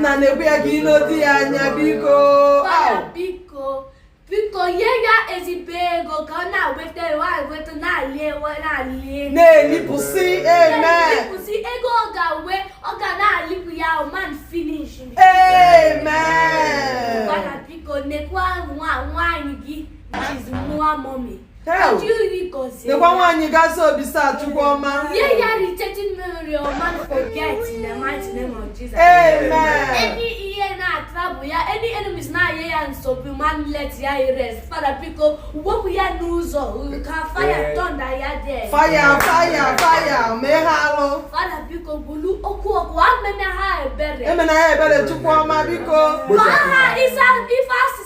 nna nekwa ya gị nedo ya anya biko biko biko nye ya ezigbo ego ka ọ na-eweta ewe eweta na-eli ewe na-eli ego na-elipụsị amen elipụsị ego ọ ga-enwe ọ ga na-elipụ ya man finish amen biko nekwa nwa nwaanyị gị small mommy nekwa nwaanyị gazi obisa chukwu ọma fire fire fire mee ha alụ emena ha ebere chukwu ọma biko ife asị